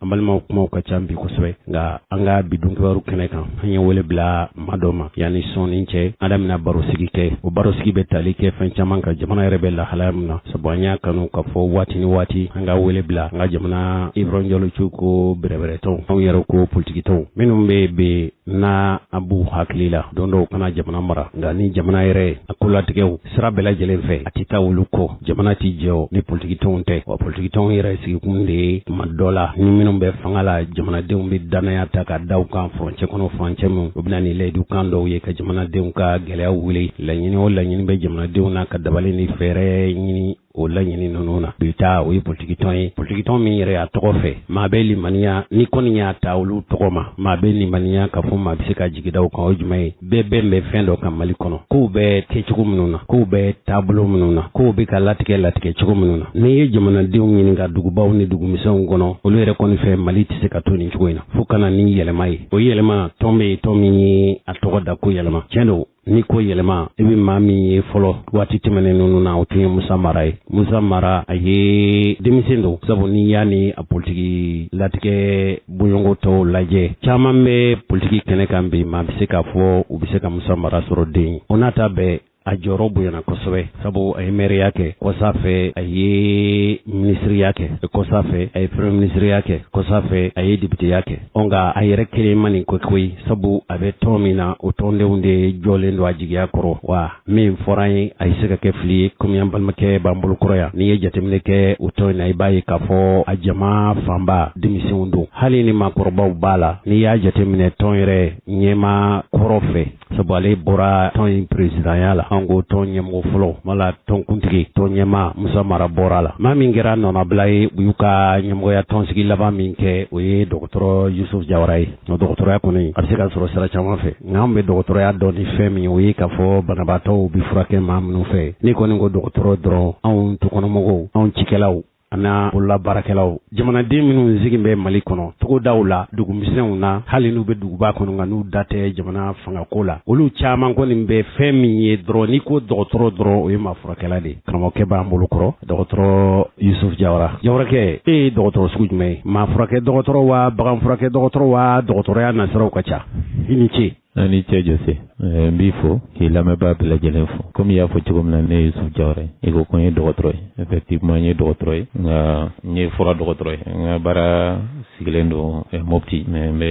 An balimaw kumaw ka ca bi kosɛbɛ nka an ka bi dunkibaru kɛnɛ kan an ye wele bila maa dɔ ma yanni sɔɔni cɛ an n'a bɛna barosigi kɛ o barosigi bɛ tali kɛ fɛn caman kan jamana yɛrɛ bɛ lahalaya min na sabu an y'a kanu k'a fɔ waati ni waati an ka wele bila an ka jamana ibrahim jalocɛw ko bɛrɛbɛrɛtɔn anw yɛrɛ ko politikitɔn minnu bɛ n'a b'u hakili la don dɔ u ka na jamana mara nka nin jamana yɛrɛ a kolatigɛw sira bɛɛ lajɛlen fɛ a tɛ taa olu kɔ jamana tɛ jɔ ni politikitɔnw tɛ wa politikitɔnw yɛrɛ sigikun de ye tuma dɔ la ni minnu bɛ fanga la jamanadenw bɛ dannaya ta ka da u kan furancɛ kɔnɔ furancɛ min u bɛ na ni layidukan dɔw ye ka jamanadenw ka gɛlɛya wuli laɲini o laɲini bɛ jamanadenw na ka dabali ni fɛɛrɛ ɲini o laɲini ninnu na bi ta o ye politikitɔn ye politikitɔn min yɛrɛ a tɔgɔ fɛ maa bɛ limaniya n'i kɔni y'a ta olu tɔgɔ ma maa bɛ limaniya k'a fɔ maa bɛ se ka jigi da u kan o jumɛn ye bɛɛ bɛn bɛ fɛn dɔ kan mali kɔnɔ kow bɛ kɛ cogo minnu na kow bɛ taabolo minnu na kow bɛ ka latigɛ latigɛ cogo minnu na n'i ye jamanadenw ɲininka dugubaw ni dugumisɛnw kɔnɔ olu yɛrɛ kɔni fɛ mali tɛ se ka to nin cogo in na fo ka na ni yɛlɛma ye o yɛlɛma tɔn bɛ yen tɔn min ye a tɔgɔ da ko yɛlɛma tiɲɛ don N'i ko yɛlɛma i bɛ maa min ye fɔlɔ waati tɛmɛnen ninnu na o tun ye musa mara ye musa mara a ye denmisɛn don sabu n'i y'a ni a politiki latigɛ bɔɲɔgɔnko tɔw lajɛ caman bɛ politiki kɛnɛ kan bi maa bɛ se k'a fɔ u bɛ se ka musa mara sɔrɔ den o n'a ta bɛɛ a jɔyɔrɔ bonyana kosɛbɛ sabu a ye mɛriya kɛ kɔsa fɛ a ye minisiriya kɛ kɔsa fɛ a ye peremiye minisiriya kɛ kɔsa fɛ a ye depiteya kɛ nka a yɛrɛ kelen ma nin ko koyi sabu a bɛ tɔn min na o tɔndenw de jɔlen don a jigiya kɔrɔ wa min fɔra n ye a bɛ se ka kɛ fili ye kɔmi an balimakɛ b'an bolo kɔrɔ yan n'i ye jateminɛ kɛ o tɔn in na i b'a ye k'a fɔ a jama fanba denmisɛnw don hali ni maakɔrɔbaw b'a la n'i y'a jateminɛ tɔn yɛrɛ ɲɛmaa kɔrɔ fɛ sabu ale bɔra tɔn in peresidanya la an ko tɔn ɲɛmɔgɔ fɔlɔ wala tɔnkuntigi tɔn ɲɛmaa musa mara bɔra a la maa min kɛra a nɔnabila ye u y'u ka ɲɛmɔgɔya tɔnsigi laban min kɛ o ye dɔgɔtɔrɔ yusufu jawara ye o dɔgɔtɔrɔya kɔni a bɛ se ka sɔrɔ sira caman fɛ nka an bɛ dɔgɔtɔrɔya dɔn ni fɛn min o ye k'a fɔ banabaatɔw bɛ furakɛ maa minnu fɛ n'i kɔni ko dɔgɔtɔrɔ dɔrɔn anw tukɔnɔmɔgɔw anw cikɛlaw an bololabaarakɛlaw jamanaden minnu sigin bɛ mali kɔnɔ togodaw la dugumisɛnw na hali n'u bɛ duguba kɔnɔ nka n'u da tɛ jamana fangako la olu caman kɔni bɛ fɛn min ye dɔrɔn n'i ko dɔgɔtɔrɔ dɔrɔn o ye maa furakɛla de karamɔgɔkɛ b'an bolo kɔrɔ dɔgɔtɔrɔ yusuf jawara jawarakɛ e ye dɔgɔtɔrɔ sugu jumɛn ye maa furakɛ dɔgɔtɔrɔ wa bagan furakɛ dɔgɔtɔrɔ wa dɔgɔtɔrɔya nasiraw ka ca i ni ce A ni ce Jose ɛɛ n b'i fo k'i lamɛnbaa bɛɛ lajɛlen fo comme i y'a fɔ cogo min na ne ye Yusuf Jawara ye i ko ko n ye dɔgɔtɔrɔ ye effectivement n ye dɔgɔtɔrɔ ye nka n ye fura dɔgɔtɔrɔ ye n ka baara sigilen don eh, Mopti mais n bɛ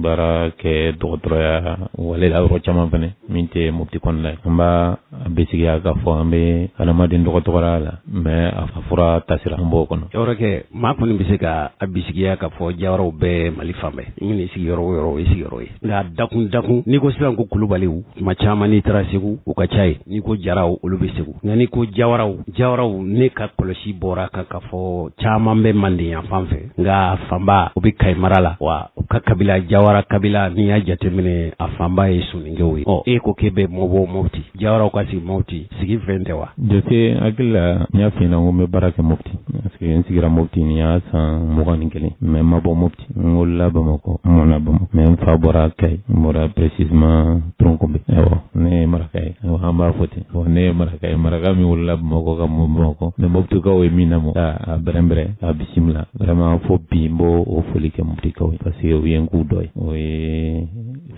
baara kɛ dɔgɔtɔrɔya wale la yɔrɔ caman fɛnɛ min tɛ Mopti kɔnɔna ye n b'a A bisigiya k'a fɔ an bɛ adamaden dɔgɔtɔrɔya la mais a fura tasira an b'o kɔnɔ Jawarakɛ maa kɔni bɛ se ka a bisigiya k'a fɔ Jawaraw bɛ mali fan bɛɛ n'i y'i sigi yɔrɔ o yɔrɔ o ye sigiyɔrɔ ye nka dakun dakun n'i ko sisan ko Kulubaliw tuma caman n'i taara segu u ka ca ye n'i ko jaraw olu bɛ segu nka n'i ko Jawaraw Jawaraw ne ka kɔlɔsi bɔra kan k'a fɔ caman bɛ Manden yan fan fɛ nka fanba o bɛ Kayi mara la wa u ka kabila Jawara kabila n'i y'a jateminɛ a fanba ye Soninkew ye ɔ e ko k'e bɛ bɔ Mopti Jawaraw ka sigi Mopti sigi fɛn tɛ wa? Jose n hakili la n y'a f'i ɲɛna n ko n bɛ baara kɛ Mopti parce que n sigira Mopti nin y'a san mugan ni kelen mais n ma bɔ Mopti n wolola Bamakɔ n mɔna Bamakɔ mais n fa bɔra Kayi n bɔra précisément Troungoumbé awɔ ne ye maraka ye awɔ an b'a fɔ ten awɔ ne ye maraka ye maraka min wolola Bamakɔ ka mɔ Bamakɔ mais Moptikaw ye min lamɔ k'a bɛrɛnbɛrɛn k'a bisimila vraiment fo bi n b'o o foli kɛ Moptikaw ye parce que u ye n k'u dɔ ye o ye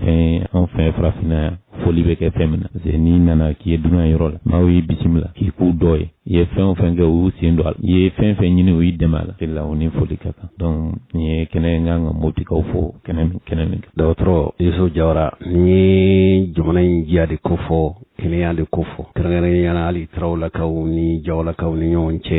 fɛn anw fɛ farafinna yan foli bɛ kɛ fɛn min na parce que n'i nana k'i ye dunan yɔrɔ la maaw y'i bisimila k'i k'u dɔ ye i ye fɛn o fɛn kɛ u y'u sen don a la i ye fɛn fɛn ɲini u y'i dɛmɛ a la de la u ni foli ka kan donc nin ye kɛnɛ n kan ka Moptikaw fo kɛnɛ min kɛnɛ min kan dɔgɔtɔrɔ Yusuf Jawara nin ye jamana in diya de kofɔ kɛnɛya de kofɔ kɛrɛnkɛrɛnya la hali tarawelakaw ni jawalakaw ni ɲɔgɔn cɛ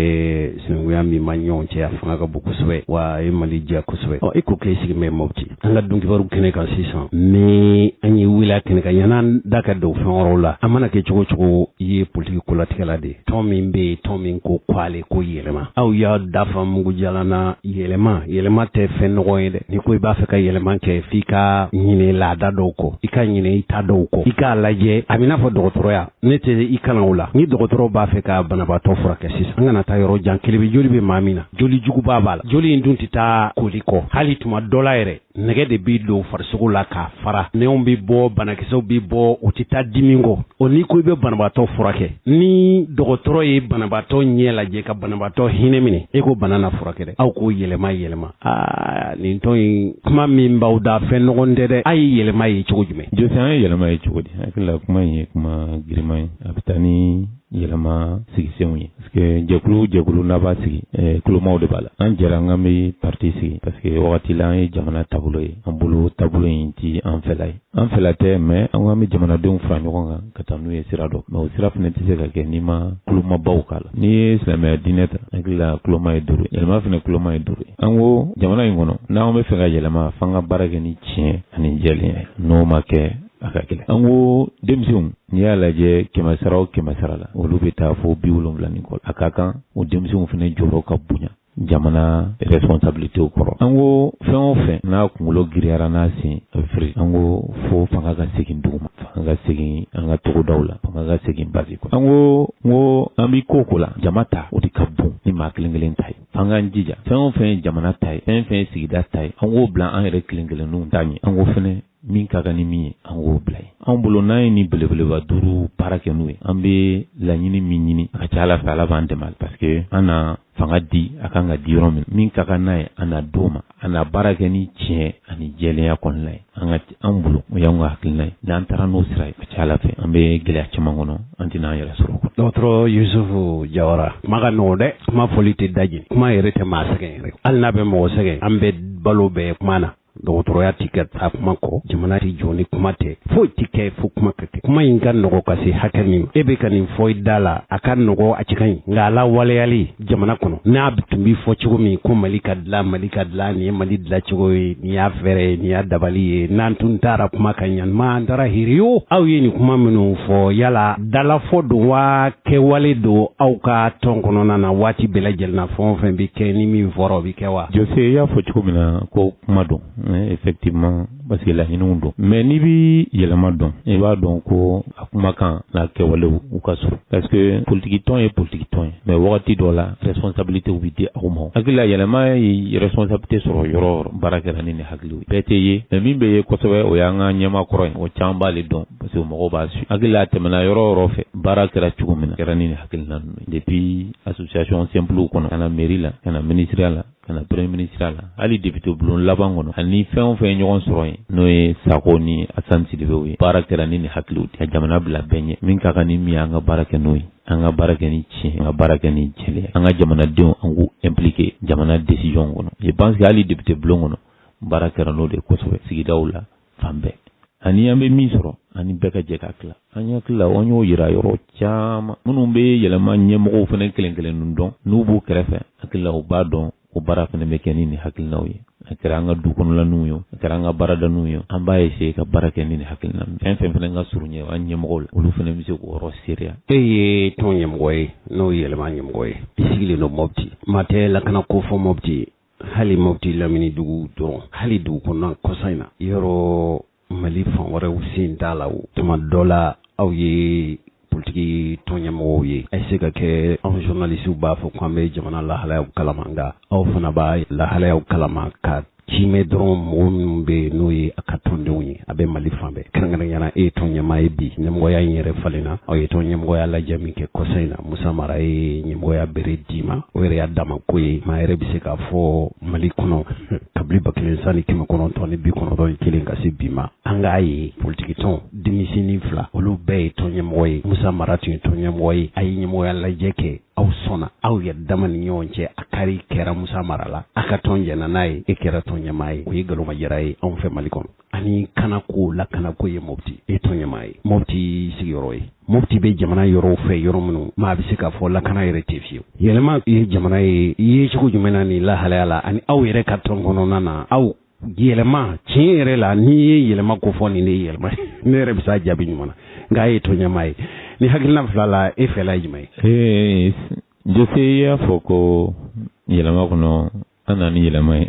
sinankunya min b'an ɲɔgɔn cɛ a fanga ka bon kosɛbɛ wa a ye mali diya kosɛbɛ ɔ i ko k'e sigi bɛ Mopti an ka dunkibaru kɛnɛ kan sisan ni an y'i wele kɛnɛ kan yan'an da ka don fɛn wɛrɛw la a mana kɛ cogo o cogo i ye politiki kolatigɛla de ye tɔn min bɛ yen tɔn min ko k'ale ko yɛlɛma aw y'a da fa mugu jalan na yɛlɛma yɛlɛma tɛ fɛn nɔgɔ ye dɛ n'i ko i b'a fɛ ka yɛlɛma kɛ f'i ka ɲinɛ laada dɔw kɔ i ka ɲinɛ i ta dɔw kɔ i k'a lajɛ a b'i n'a fɔ dɔgɔtɔrɔya ne tɛ i kalan o la ni dɔgɔtɔrɔ b'a fɛ ka banabaatɔ furakɛ sisan an kana taa yɔrɔ jan kelebe joli bɛ maa min na joli juguba b'a la joli in dun tɛ taa koli kɔ hali tuma dɔ la yɛrɛ nɛgɛ de bɛ don farisogo la k'a fara nɛnw bɛ bɔ banakisɛw bɛ bɔ u tɛ taa dimi kɔ o n'i ko i bɛ banabaatɔ furakɛ ni dɔgɔtɔrɔ ye banabaatɔ ɲɛ lajɛ ka banabaatɔ hinɛ minɛ e ko bana na furakɛ dɛ aw k'o yɛlɛma yɛlɛma aa nin tɔn in kuma min b'aw da fɛn nɔgɔn tɛ dɛ a ye yɛlɛma ye cogo jumɛn Jose an ye yɛlɛma ye cogo di hakili la kuma in ye kuma girinman ye a bɛ taa ni yɛlɛma sigisenw ye parce que jɛkulu jɛkulu n'a b'a sigi eh, kulomaw de b'a la an jɛra k'an bɛ parti sigi parce que wagati la an ye jamana taabolo ye an bolo taabolo in ti an fɛla ye an fɛla tɛ mais an ko an bɛ jamanadenw fara ɲɔgɔn kan ka taa n'u ye sira dɔ ma o sira fana tɛ se ka kɛ n'i ma kulomabaw k'a la n'i ye silamɛya diinɛ ta hakili la kuloma ye duuru ye yɛlɛma fana kuloma ye duuru ye an ko jamana in kɔnɔ n'an bɛ fɛ ka yɛlɛma f'an ka baara kɛ ni tiɲɛ ani jɛlenya ye n'o ma kɛ a ka gɛlɛn an ko denmisɛnw n'i y'a lajɛ kɛmɛ sara o kɛmɛ sara la olu bɛ taa fo bi wolonwula ni kɔ a ka kan o denmisɛnw fana jɔyɔrɔ ka bonya jamana responsabilité kɔrɔ an ko fɛn o fɛn n'a kunkolo giriyara n'a sen a bɛ firi an ko fo fanga ka segin duguma fanga ka segin an ka togodaw la fanga ka segin base kɔnɔ an ko n ko an bɛ ko ko la jama ta o de ka bon ni maa kelen kelen ta ye f'an k'an jija fɛn o fɛn ye jamana ta ye fɛn fɛn ye sigida ta ye an k'o bila an yɛrɛ kelen kelenninw ta ɲɛ an ko fɛnɛ min ka kan ni min ye an k'o bila ye anw bolo n'an ye nin belebeleba duuru baara kɛ n'u ye an bɛ laɲini min ɲini a ka ca ala fɛ ala b'an dɛmɛ parce que an na fanga di a kan ka di yɔrɔ min min ka kan n'a ye an na d'o ma an na baara kɛ ni tiɲɛ ani jɛlenya kɔnɔna ye an ka an bolo o y'an ka hakilina ye n'an taara n'o sira ye a ka ca ala fɛ an bɛ gɛlɛya caman kɔnɔ an tɛna an yɛrɛ sɔrɔ o kɔnɔ dɔgɔtɔrɔ yusufu jawara kuma ka nɔgɔn dɛ kuma fɔli tɛ da jeni kuma yɛrɛ tɛ maa sɛgɛn yɛrɛ hali n'a bɛ mɔgɔ sɛgɛn an bɛ balo bɛɛ kuma na dɔgɔtɔrɔya tɛ ka taa kuma kɔ jamana tɛ jɔ ni kuma tɛ foyi tɛ kɛ fo kuma ka kɛ kuma in ka nɔgɔ ka se hakɛ min ma e bɛ ka nin fɔ i da la a ka nɔgɔ a cɛ ka ɲi nka a lawaleyali jamana kɔnɔ n'a tun bɛ fɔ cogo min ko mali ka dilan mali ka dilan nin ye mali dilan cogo ye nin y'a fɛɛrɛ ye nin y'a dabali ye n'an tun taara kuma ka ɲanima an taara hiriyo aw ye nin kuma minnu fɔ yala dalafɔ don wa kɛwale don aw ka tɔn kɔnɔna na waati bɛɛ lajɛlen na fɛn o fɛn bɛ kɛ ni min fɔra o bɛ kɛ wa. jose i y'a fɔ cogo min na ko kuma don effectivement parce que laɲiniw don mais n'i bɛ yɛlɛma dɔn i b'a dɔn ko a kumakan n'a kɛwalew u ka surun parce que politikitɔn ye politikitɔn ye mais wagati dɔ la responsabilité bɛ di aw ma hakili la yɛlɛma ye responsabilité sɔrɔ yɔrɔ yɔrɔ baara kɛra ni nin hakiliw ye bɛɛ tɛ ye mais min bɛ ye kosɛbɛ o y'an ka ɲɛmaa kɔrɔ ye o caman b'ale dɔn Parce que mɔgɔw b'a su hakili la a tɛmɛna yɔrɔ yɔrɔ fɛ baara kɛra cogo min na kɛra ni nin hakilina ye depuis association simplew kɔnɔ ka na mairie la ka na minisiriya la ka na premier minisiriya la hali député bulon laban kɔnɔ ani fɛn o fɛn ɲɔgɔn sɔrɔ yen n'o ye sako ni assane sidibew ye baara kɛra ni nin hakiliw ka jamana bila bɛɛ ɲɛ min ka kan ni min ye an ka baara kɛ n'o ye an ka baara kɛ ni tiɲɛ an ka baara kɛ ni jɛlenya an ka jamanadenw an k'u impliqué jamana décision kɔnɔ je pense hali député bulon kɔnɔ baara kɛra n'o de kosɛbɛ sigidaw la fan bɛɛ ani an bɛ min sɔrɔ ani bɛɛ ka jɛ ka tila an hakili la an y'o yira yɔrɔ caman minnu bɛ yɛlɛma ɲɛmɔgɔw fana kelen kelen dɔn n'u b'u kɛrɛfɛ hakili la u b'a dɔn o baara fana bɛ kɛ ni nin hakilinaw ye a kɛra an ka du kɔnɔlaniw ye a kɛra an ka baaradaninw ye an b'a eseye ka baara kɛ ni nin hakilina fɛn fɛn fana ka surun ɲɛ an ɲɛmɔgɔw la olu fana bɛ se k'o yɔrɔ seereya e ye tɔn ɲɛmɔgɔ ye n'o ye yɛlɛma ɲɛmɔgɔ ye i sigilen don mopti maa tɛ lakana ko fɔ mopti hali mopti lamini dugu dɔrɔn hali dugu kɔnɔna kɔsa in na yɔrɔ mali fan wɛrɛw sen t'a la o tuma dɔ la aw ye politiki tɔnɲɛmɔgɔw ye a bɛ se ka kɛ anw zɔnalisiw b'a fɔ ko an bɛ jamana lahalayaw kalama nka aw fana b'a lahalayaw kalama ka cimɛ dɔrɔn mɔgɔ minnu bɛ yen n'o ye a ka tɔndenw ye a bɛ mali fan bɛɛ kɛrɛnkɛrɛnya na e ye tɔn ɲɛmaa ye bi ɲɛmɔgɔya in yɛrɛ falen na aw ye tɔn ɲɛmɔgɔya lajɛ min kɛ kɔsa in na musa mara ye ɲɛmɔgɔya bere d'i ma o yɛrɛ y'a dama ko ye maa yɛrɛ bɛ se k'a fɔ mali kɔnɔ kabili ba kelen san ni kɛmɛ kɔnɔntɔn ni bi kɔnɔntɔn ni kelen ka se bi ma an k'a ye politikitɔn denmisɛnnin fila olu bɛɛ ye tɔn ɲɛmɔgɔ ye musa mara tun ye tɔn ɲɛmɔgɔ ye a ye ɲɛmɔgɔya lajɛ kɛ aw sɔnna aw yɛrɛ dama ni ɲɔgɔn cɛ a kari kɛra musa mara la a ka tɔn jɛnna n'a ye e kɛra tɔn ɲɛmaa ye o ye galomajira ye anw fɛ mali kɔnɔ ani kana ko lakana ko ye mopti e tɔn ɲɛmaa ye mopti i sigiyɔrɔ ye mopti bɛ jamana yɔrɔw fɛ yɔrɔ minnu maa bɛ se k'a fɔ lakana yɛrɛ tɛ fiyewu yɛlɛma ye jamana ye i ye cogo jumɛn na nin lahalaya la ani aw yɛrɛ ka tɔn kɔnɔna na aw yɛlɛma tiɲɛ yɛrɛ la n'i ye yɛlɛma ko fɔ nin de ye yɛlɛma ne yɛrɛ bɛ se k'a jaabi ɲuman na nka e ye tɔn ɲɛmaa ye nin hakilina fila la e fɛla ye jumɛn ye jose y'a fɔ ko yɛlɛma kɔnɔ an nana ni yɛlɛma ye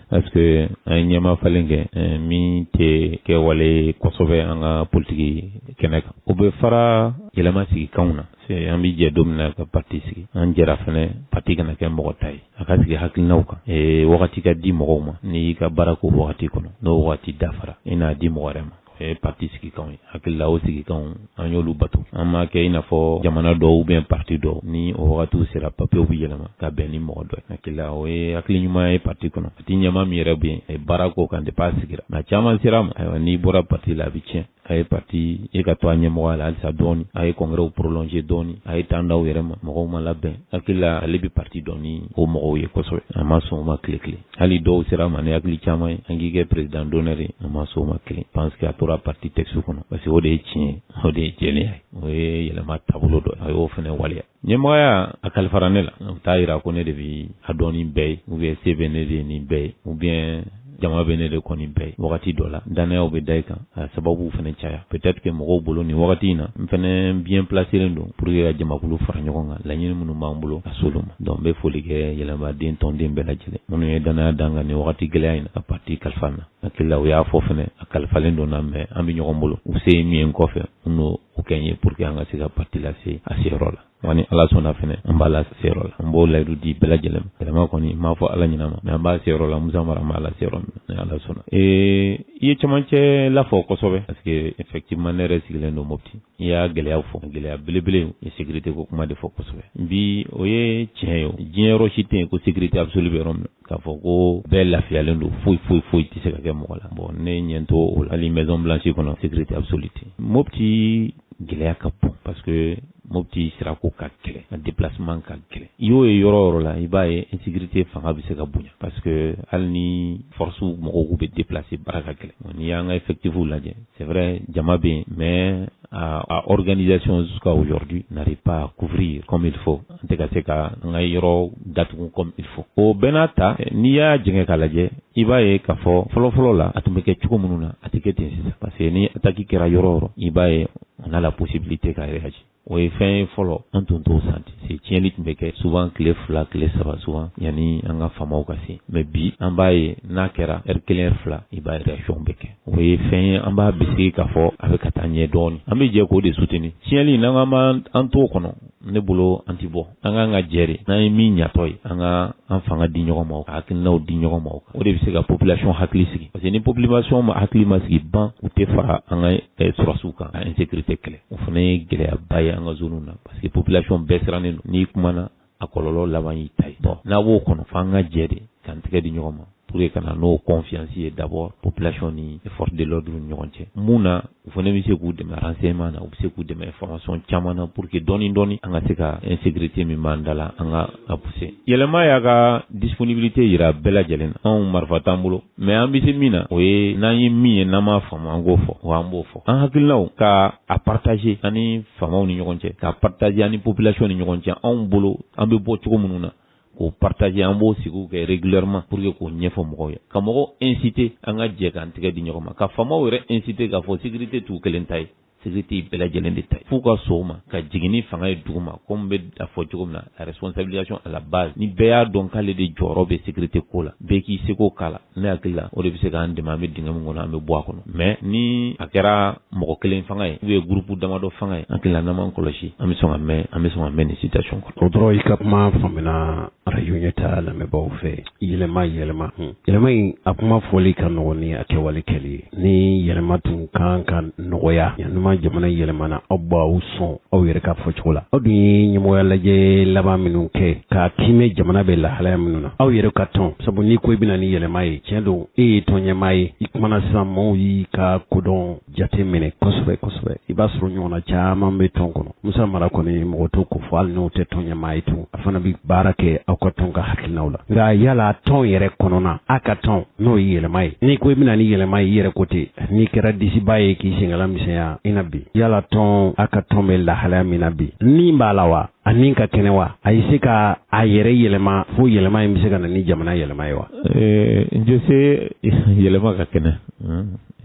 parce que an ye ɲɛma falen kɛ eh, min tɛ kɛwale kosɛbɛ an ka politiki kɛnɛ kan o bɛ fara yɛlɛma sigi kanw na an bɛ jɛ don min na ka pati sigi an jɛra fana pati kana kɛ mɔgɔ ta ye a ka sigi hakilinaw kan eh, wagati ka di mɔgɔw ma n'i y'i ka baara k'o wagati kɔnɔ n'o wagati dafara i n'a di mɔgɔ wɛrɛ ma Eh, pati sigikanw ye hakili la o sigikanw an y'olu bato an m'a kɛ i n'a fɔ jamana dɔw ubiyɛn pati dɔw ni o wagatiw sera papiyew be yɛlɛma ka bɛn ni mɔgɔ dɔ ye hakili la o ye hakili ɲuman ye pati kɔnɔ pati ɲɛma min yɛrɛ be yen a ye baara k'o kan depi a sigira maa caman sera a ma ayiwa n'i bɔra pati la a be tiɲɛ a ye pati e ka to a ɲɛmɔgɔya la halisa dɔɔni a ye kɔngɛrɛw prolonger dɔɔni a ye tan d'aw yɛrɛ ma mɔgɔw ma labɛn hakili la ale be pati dɔn ni o mɔgɔw ye kosɛbɛ a ma sɔn o ma kile kelen hali dɔw sera a ma ni hakili caman ye an k'i kɛ perezidan donɛri a ma sɔn o ma kelen panse ke a tora parti tɛkisu kɔnɔ parce que o de ye tiɲɛ ye o de ye jɛlenya ye o ye yɛlɛma taabolo dɔ ye a y'o fana waleya ɲɛmɔgɔya a kalifara ne la o t'a yira ko ne de bɛ a dɔn ni bɛɛ ye ubiyɛn se bɛ ne de ye ni bɛɛ ye ubiyɛn jama bɛ ne de kɔ ni bɛɛ ye wagati dɔ la dannayaw bɛ da i kan a sababu fana caya peut-être que mɔgɔw bolo nin wagati in na n fana bien placelen don pour que ka jamakulu fara ɲɔgɔn kan laɲini minnu b'an bolo ka s'olu ma donc n bɛ foli kɛ yɛlɛmaden tɔnden bɛɛ lajɛlen minnu ye dannaya d'an kan nin wagati gɛlɛya in na ka parti kalifa n na hakili la u y'a fɔ fana a kalifalen don n na mais an bɛ ɲɔgɔn bolo u se ye min ye n kɔfɛ u n'o kɛ n ye pour que an ka se ka parti lase a seyɔrɔ la wa ni ala sɔnna fɛnɛ an b'a lase yɔrɔ la an b'o layidu di bɛɛ lajɛlen ma yɛlɛma kɔni n m'a fɔ ala ɲinama mais an b'a seyɔrɔ la musa mara an b'a lase yɔrɔ min na ni ala sɔnna ee i ye camancɛ lafɔ kosɛbɛ parce que effectivement ne yɛrɛ sigilen don mopti i y'a gɛlɛya fɔ gɛlɛya belebele ye sécurité ko kuma de fɔ kosɛbɛ bi o ye tiɲɛ ye diɲɛ yɔrɔ si tɛ yen ko sécurité absolue bɛ yɔrɔ min na k'a fɔ ko bɛɛ lafiyalen don foyi foyi foyi tɛ se ka kɛ mɔgɔ la bon ne ɲɛ t'o la hali maison blanche kɔnɔ sécurité absolue tɛ mopti gɛlɛya ka bon parce que mopti sirako ka gɛlɛn a déplacement ka gɛlɛn i y'o ye yɔrɔ yɔrɔ la i b'a ye insécurité fanga bɛ se ka bonya parce que hali ni force mɔgɔw k'u bɛ déplacer baara ka gɛlɛn n'i y'an ka effectifs lajɛ c'est vrai jama bɛ yen mais a organisation jusqu'à aujourd'hui n'arrive pas à couvrir comme il faut an tɛ ka se ka an ka yɔrɔ datugu comme il faut o bɛɛ n'a ta n'i y'a jɛngɛ k'a lajɛ i b'a ye k'a fɔ fɔlɔfɔlɔ la a tun bɛ kɛ cogo minnu na a tɛ kɛ ten sisan parce que ni ataki kɛra yɔrɔ o yɔrɔ i b'a ye on a la possibilité ka réagir o ye fɛn ye fɔlɔ an tun t'o sentir c'est tiɲɛni tun bɛ kɛ souvent tile fila tile saba souvent yanni an ka faamaw ka se mais bi an b'a ye n'a kɛra heure kelen heure fila i b'a ye réaction bɛ kɛ o ye fɛn ye an b'a bisigi k'a fɔ a bɛ ka taa ɲɛ dɔɔnin an bɛ jɛ k'o de soutenir tiɲɛli n'an kama an t'o kɔnɔ ne bolo an tɛ bɔ an k'an ka jɛ de n'an ye min ɲatɔ ye an ka an fanga di ɲɔgɔn ma o ka hakilinaw di ɲɔgɔn ma o o de bɛ se ka population hakili sigi parce que ni population ma hakili ma sigi ban u tɛ fara an ka eh, sɔrɔdasiw kan ka insécurité kɛlɛ o fana ye gɛlɛyaba ye an ka zone na parce que population bɛɛ sirannen don n'i kumana a kɔlɔlɔ laban y'i ta ye bon n'a b'o kɔnɔ fo an ka jɛ de k'an tɛgɛ di ɲɔgɔn ma pour que ka na n'o confiance ye d'abord population ni force de l'ordre ni ɲɔgɔn cɛ mun na u fana bɛ se k'u dɛmɛ renseignement na u bɛ se k'u dɛmɛ information caman na pour que dɔɔni dɔɔni an ka se ka insécurité min b'an da la an ka a pousser yɛlɛma y'a ka disponibilité jira bɛɛ lajɛlen na anw marifa t'an bolo mais an bɛ se min na o ye n'an ye min ye n'an m'a faamu an k'o fɔ wa an b'o fɔ an hakilinaw ka a partager an ni faamaw ni ɲɔgɔn cɛ k'a partager an ni population ni ɲɔgɔn cɛ anw bolo an bɛ bɔ cogo minnu na k'o partager an b'o sigiw kɛ régulièrement pour que k'o ɲɛfɔ mɔgɔw ye ka mɔgɔw inciter an ka jɛ k'an tɛgɛ di ɲɔgɔn ma ka faamaw yɛrɛ inciter k'a fɔ sécurité t'u kelen ta ye sécurité ye bɛɛ lajɛlen de ta ye f'u ka sɔn o ma ka jigin ni fanga ye duguma komi n bɛ a fɔ cogo min na la responsabilisation à la base ni bɛɛ y'a dɔn k'ale de jɔyɔrɔ bɛ sécurité ko la bɛɛ k'i seko k'a la ne hakili la o de bɛ se k'an dɛmɛ an bɛ dingɛ min kɔnɔ an bɛ bɔ a kɔnɔ mais ni a kɛra mɔgɔ kelen fanga ye ou bien groupe damadɔ fanga ye an hakili la n'an m'an kɔlɔsi an bɛ sɔn ka mɛn an bɛ sɔn ka mɛn nin situation kɔnɔ. o dɔrɔn i ka kuma faamuna arajo ɲɛtaa lamɛnbaaw fɛ yɛlɛma yɛlɛma yɛlɛma in a kuma fɔli ka nɔgɔn ni a kɛwale kɛli ye. ni yɛlɛma tun kan ka nɔgɔya yanuma jamana yɛlɛmana aw b'aw sɔn aw yɛrɛ ka fɔ cogo la aw dun ye ɲɛmɔgɔya lajɛ laban minnu kɛ ka tɛmɛ jamana bɛ lahalaya minnu na aw yɛrɛ ka tɔn sabu n'i ko i bɛna ni yɛlɛma ye tiɲɛ don e ye tɔn ɲɛmaa ye i kumana sisan maaw y'i ka kodɔn jate minɛ kosɛbɛ kosɛbɛ i b'a sɔrɔ ɲɔgɔnna caman bɛ tɔn kɔnɔ Musa Mara kɔni mɔgɔ t'o ko fɔ hali n'o tɛ tɔn ɲɛmaa ye tun, a fana bɛ baara kɛ aw ka tɔn ka hakilinaw la. Nka yala tɔn yɛrɛ kɔnɔna, a ka tɔn, n'o ye yɛlɛma ye, n'i ko i bɛna ni yɛlɛma ye i yɛrɛ ko ten, n'i kɛra disibaa ye k'i senkala misɛnya i na bi, yala tɔn, a ka tɔn bɛ lahalaya min na bi, ni b'a la wa? A ni ka kɛnɛ wa? A ye se ka a yɛrɛ yɛlɛma fo yɛlɛma in bɛ se ka na ni jamana yɛlɛma ye wa? Ɛɛ, Jose, yɛlɛma ka kɛnɛ,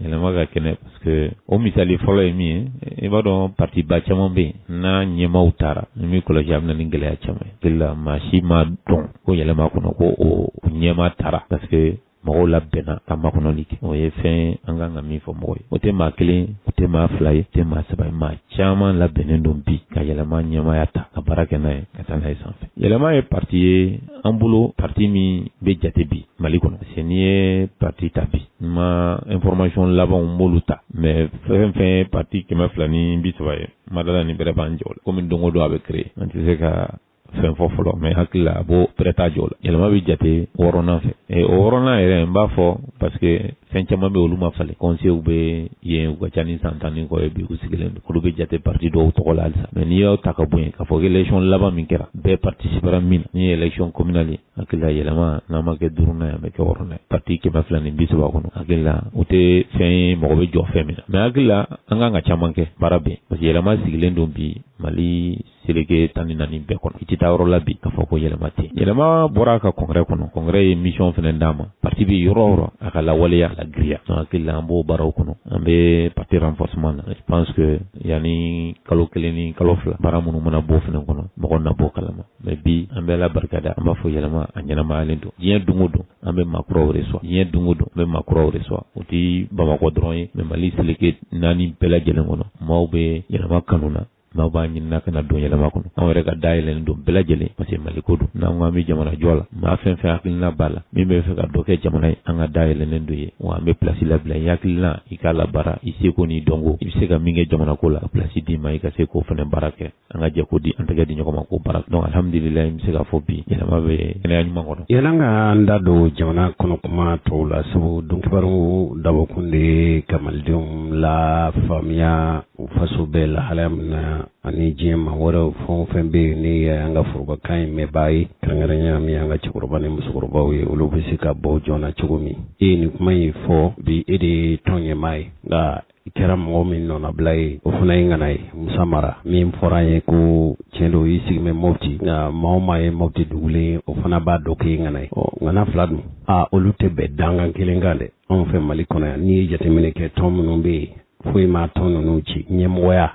yɛlɛma ka kɛnɛ. o misali fɔlɔ ye min ye i b'a dɔn patiba caman bɛ yen n'a ɲɛmaaw taara n'i m'i kɔlɔsi a bɛ na ni gɛlɛya caman ye hakilila maa si m'a dɔn ko yɛlɛma kɔnɔ ko u ɲɛmaa taara parce que mɔgɔw labɛnna ka makɔnɔli kɛ o ye fɛn ye an kan ka min fɔ mɔgɔ ye o tɛ maa kelen o tɛ maa fila ye o tɛ maa saba ye maa caman labɛnnen don bi ka yɛlɛma ɲɛmaaya ta ka baara kɛ n'a ye ka taa n'a ye sanfɛ yɛlɛma ye pati ye an bolo pati min bɛ jate bi mali kɔnɔ parce n'i ye pati ta bi n ma information labanw n m'olu ta mais fɛn fɛn ye pati kɛmɛ fila ni bi saba ye n ma d'a la ni bɛrɛ b'a j'o la kɔmi don o don a bɛ créer an tɛ se ka fɛn fɔ fɔlɔ mais hakilila a b'o bɛrɛ t'a j'o la yɛlɛma bɛ jate wɔɔrɔnan fɛ o wɔɔrɔnan yɛrɛ n b'a fɔ parce fɛn caman bɛ olu ma falen kɔnseyew bɛ yen u ka ca ni san tan ni kɔ ye bi u sigilen don olu bɛ jate pati dɔw tɔgɔ la halisa mais n'i y'u ta ka bɔ yen k'a fɔ k'élection laban min kɛra bɛɛ participera min na n'o ye élection communale ye hakilila yɛlɛma n'a ma kɛ duurunan ye a bɛ kɛ wɔɔrɔnan ye pati kɛmɛ fila ni bi saba kɔnɔ hakilila o tɛ fɛn ye mɔgɔ bɛ jɔ fɛn min na mais hakilila an kan ka caman kɛ baara bɛ yen parce que yɛlɛma sigilen don bi mali seleke tan ni naani bɛɛ kɔnɔ i tɛ taa yɔrɔ la bi k'a fɔ ko yɛlɛma tɛ yɛlɛma bɔra a ka congrès kɔnɔ congrès ye misiyɔn fana d'a ma pati bɛ yɔrɔ o yɔrɔ a ka lawaleya a lagirinya donc hakili la an b'o baaraw kɔnɔ an bɛ pati renforcement na je pense que yanni kalo kelen ni kalo fila baara minnu mana b'o fana kɔnɔ mɔgɔ na b'o kalama mais bi an bɛ ala barika da an b'a fɔ yɛlɛma a ɲɛnamayalen don diɲɛ don o don an bɛ maa kuraw reçoit diɲɛ don o don an bɛ maa kuraw reçoit o tɛ bamakɔ dɔrɔn ye mais mali seleke naani bɛɛ lajɛlen kɔnɔ maaw bɛ yɛlɛma kanu na maaw b'a ɲinina ka na don yɛlɛma kɔnɔ anw yɛrɛ ka da yɛlɛlen don bɛɛ lajɛlen parce que mali ko don n'an ko an bɛ jamana jɔ la maa fɛn fɛn hakilina b'a la min bɛ fɛ ka dɔ kɛ jamana ye an ka da yɛlɛlen don i ye wa an bɛ pilasi labila i hakilina i k'a labaara i seko n'i dɔnko i bɛ se ka min kɛ jamana ko la ka pilasi d'i ma i ka se k'o fana baara kɛ an ka jɛ ko di an tɛgɛ di ɲɔgɔn ma k'o baara kɛ donc alhamdulilayi n bɛ se k'a fɔ bi yɛlɛma bɛ kɛnɛya ɲuman kɔnɔ yann'an k'an da don jamana kɔnɔ kuma tɔw la sabu donkibaru dabɔkun de ye ka malidenw la faamuya o faso bɛ lahalaya min na ani diɲɛ maa wɛrɛw fɛn o fɛn bɛ yen n'i y'an ka forobakan in mɛnbaa ye kɛrɛnkɛrɛnya min ye an ka cɛkɔrɔba ni musokɔrɔbaw ye olu bɛ se ka bɔ joona cogo min e ye nin kuma in fɔ bi e de ye tɔn ɲɛmaa ye nka i kɛra mɔgɔ min nɔnabila ye o fana ye ŋana ye musa mara min fɔra an ye ko tiɲɛ don i sigi bɛ mɔti nka maa o maa ye mɔti dugulen ye o fana b'a dɔn k'i ŋana ye ɔ ŋana fila dun aa olu tɛ bɛn dangan kelen kan dɛ anw fɛ mali kɔnɔ yan n'i ye jateminɛ kɛ tɔn minnu bɛ yen foyi ma tɔn ninnu ci ɲɛmɔgɔya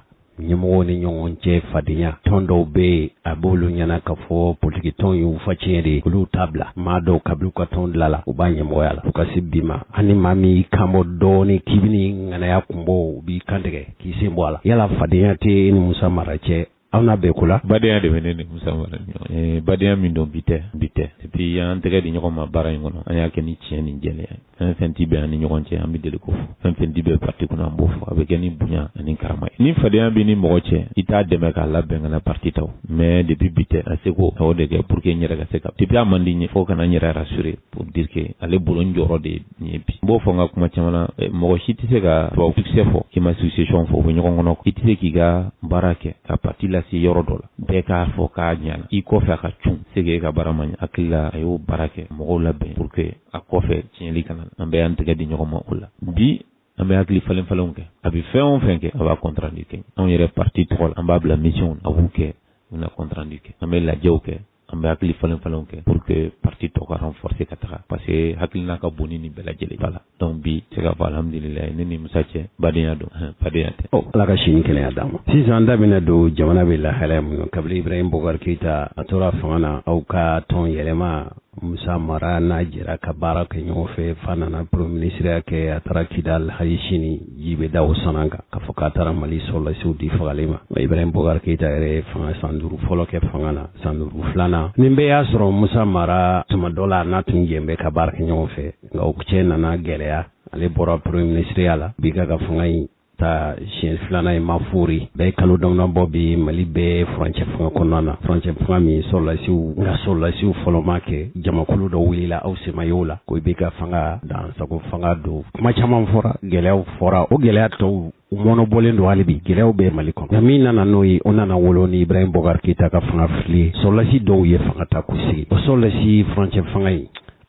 ɲɛmɔgɔw ni ɲɔgɔn cɛ fadenya tɔn dɔw bɛ yen a b'olu ɲɛna k'a fɔ politiki tɔn y'u fa tiɲɛ de ye olu t'a bila maa dɔw kabili u ka tɔn dilanna u b'a ɲɛmɔgɔya la fo ka se bi ma ani maa min y'i kanbɔ dɔɔnin k'i bɛna ŋanaya kunbɔ u b'i kantigɛ k'i sen bɔ a la yala fadenya tɛ e ni musa mara cɛ An n'a bɛɛ ko la badenya de bɛ ne ni Musa Mara ni ɲɔgɔn cɛ badenya min don bi tɛ bi tɛ et puis an y'an tɛgɛ di ɲɔgɔn ma baara in kɔnɔ an y'a kɛ ni tiɲɛ ni jɛlenya ye fɛn o fɛn tɛ bɛn an ni ɲɔgɔn cɛ an bɛ deli k'o fɔ fɛn o fɛn tɛ bɛn parti kɔnɔ an b'o fɔ a bɛ kɛ ni bonya ani karama ye ni fadenya bɛ ni mɔgɔ cɛ i t'a dɛmɛ k'a labɛn ka na parti ta o mais depuis bi tɛ a seko a y'o de kɛ pour que n yɛrɛ ka se ka depuis a man di n ye fo ka na n yɛrɛ rassurer pour dire que ale bolo n jɔyɔrɔ de ye nin ye bi n b'o fɔ n ka kuma caman na eh, mɔgɔ si tɛ se ka tubabu succès fɔ k'i ma succession fɔ o bɛ ɲɔgɔn kɔnɔ i tɛ se k'i ka baara kɛ ka parti lase yɔrɔ dɔ la bɛɛ k'a fɔ k'a ɲana i kɔfɛ a ka cun se k'e ka baara ma ɲɛ n hakili la a y'o baara kɛ mɔgɔw labɛn pour que a kɔfɛ tiɲɛli kana na an bɛɛ y'an tɛgɛ di ɲɔgɔn ma o la bi an bɛ hakili falen falenw kɛ a bɛ fɛn o fɛn kɛ a b'a compte rendu kɛ anw yɛrɛ parti tɔgɔ la an b'a bila mission a b'u kɛ u na compte rendu kɛ an bɛ lajɛw kɛ an bɛ hakili falen falenw kɛ pour que parti tɔ ka renforcer ka taga parce que hakilina ka bon ni nin bɛɛ lajɛlen voilà donc bi n se k'a fɔ alhamdulilayi ne ni musa cɛ badenya don fadenya tɛ ɔ ala ka si ni kɛnɛya d'a ma sisan an da bɛna don jamana bɛ lahalaya min na kabili ibrahim bokari keyita a tora fanga na aw ka tɔn yɛlɛma musa mara n'a jɛra ka baara kɛ ɲɔgɔn fɛ f'a nana premier ministre ya kɛ a taara kidal hali sini ji bɛ da o san kan k'a fɔ k'a taara mali sɔrɔlasiw di fagali ma ibrahim bokari keyita yɛrɛ fanga san duuru fɔlɔ kɛ fanga na san duuru filanan nin bɛɛ y'a sɔrɔ musa mara tuma dɔ la n'a tun jɛn bɛ ka baara kɛ ɲɔgɔn fɛ nka o cɛ nana gɛlɛya ale bɔra premier minisiriya la IBK ka fanga in ta siɲɛ filanan ye mafori bɛɛ kalo damanin bɔ bi mali bɛ furancɛ fanga kɔnɔna na furancɛ fanga min sɔrɔlasiw nka sɔrɔlasiw fɔlɔ m'a kɛ jamakulu dɔ wulila aw sen ma y'o la ko IBK fanga dan sago fanga don kuma caman fɔra gɛlɛyaw fɔra o gɛlɛya tɔw u mɔɔnɔbɔlen don hali bi gɛlɛyaw bɛ mali kɔnɔ nka min nana n'o ye o nana wolo ni ibrahim bokari keyita ka fanga fili sɔlasi dɔw ye fanga ta k'u sigi o sɔlasi furancɛ fanga in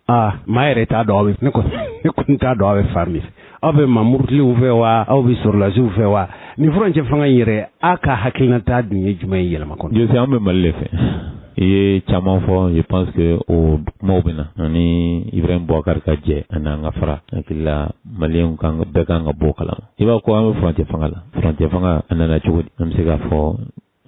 aa maa yɛrɛ t'a dɔn aw bɛ ne kɔni t'a dɔn aw bɛ fan min aw bɛ maa murutilenw fɛ wa aw bɛ sɔrɔlasiw fɛ wa nin furancɛ fanga in yɛrɛ a ka hakilinata dun ye jumɛn ye yɛlɛma kɔnɔ jose an bɛ mali de fɛ i ye caman fɔ je pense que o kumaw bɛ na ani ibrahim boubacar ka jɛ ani an ka fara hakili la maliyɛnw kan bɛɛ kan ka bɔ a kalama i b'a ko an bɛ furancɛ fanga la furancɛ fanga a nana cogo di an bɛ se k'a fɔ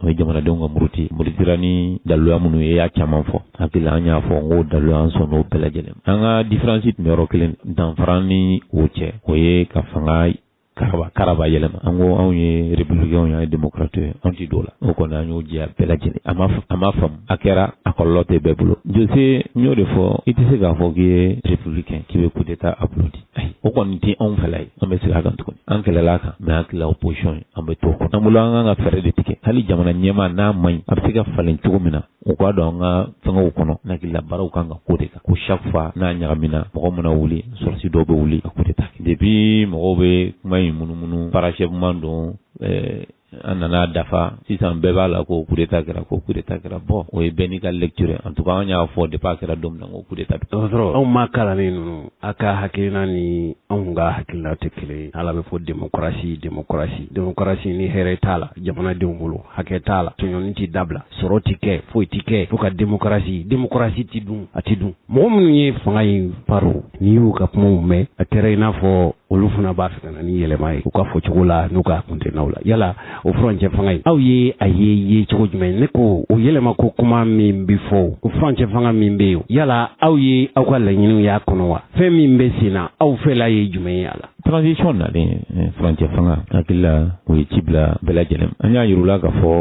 o ye jamanadenw ka muruti murutira ni daluya minnu ye y'a caman fɔ hakili la an y'a fɔ n ko daluya an sɔn n'o bɛɛ lajɛlen an ka diferansi tun bɛ yɔrɔ kelen danfara ni o cɛ o ye ka fanga karaba karaba yɛlɛma an ko anw ye républicains ye an ye démocrates ye anw ti don la o kɔni an y'o jɛya bɛɛ lajɛlen a ma a ma faamu a kɛra a kɔlɔlɔ tɛ bɛɛ bolo jose n y'o de fɔ i tɛ se k'a fɔ k'i ye républicain k'i bɛ coup d'état applaudi ayi o kɔni tɛ anw fɛla ye an bɛ segin a kan tuguni an kɛlɛla a kan mɛ n hakili la opposition ye an bɛ t'o kɔnɔ an bolo an kan ka fɛɛrɛ de tigɛ hali jamana ɲɛmaa n'a man ɲi a bɛ se ka falen cogo min na o ka don an ka fɛngɛw kɔnɔ hakilila baaraw kan ka k'o de kan ko chaque fois n'a ɲagamina mɔgɔ mana wuli sɔrɔdasi dɔw bɛ wuli ka kudeta kɛ depuis mɔgɔw bɛ kuma in munumunu parachèvement don eh, an nana a dafa sisan bɛɛ b'a la ko kudeta kɛra ko kudeta kɛra bon o ye bɛɛ n'i ka lecture en tout cas an y'a fɔ depuis a kɛra don min na ko kudeta bi dɔgɔtɔrɔ aw maa kalannen ninnu a ka hakilina ni anw ka hakilina tɛ kelen ye alu b'a fɔ démocratie démocratie démocratie ni hɛrɛ t'a la jamanadenw bolo hakɛ t'a la tɔɲɔni tɛ dabila sɔrɔ tɛ kɛ foyi tɛ kɛ fo ka demokarasi demokarasi tɛ dun a tɛ dun mɔgɔ minnu ye fanga in paro n'i y'u ka kumaw mɛn a kɛra i n'a fɔ olu fana b'a fɛ ka na ni yɛlɛma ye u ka fɔ cogo la n'u ka kuntennaw la yala o furancɛ fanga in aw ye a ye ye cogo jumɛn ne ko o yɛlɛma ko kuma min bɛ fɔ o furancɛ fanga min bɛ yen yala aw ye aw ka laɲiniw y'a kɔnɔ wa fɛn min bɛ sen na aw fɛla ye jumɛn ye a la Transition nalen ɛɛ furancɛ fanga n hakili la o ye ci bila bɛɛ lajɛlen ma, an y'a jira u la k'a fɔ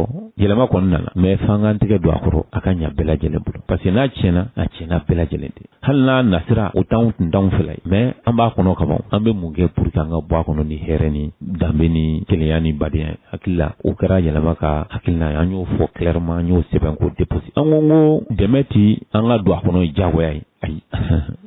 yɛlɛma kɔni nana mais f'an k'an tɛgɛ don a kɔrɔ, a ka ɲɛ bɛɛ lajɛlen bolo parce que n'a tiɲɛna, a tiɲɛna bɛɛ lajɛlen de ye, hali n'a nasira o t'anw tun t'anw fɛla ye mais an b'a kɔnɔ kaban, an bɛ mun kɛ pour que an ka bɔ a kɔnɔ ni hɛrɛ ni danbe ni kelenya ni badenya ye, hakili la o kɛra yɛlɛma ka hakilina ye, an y'o fɔ clairement an y'o sɛbɛn k'o déposer an ko ko dɛmɛ tɛ an ka don a kɔnɔ ye diyagoya ye. ayi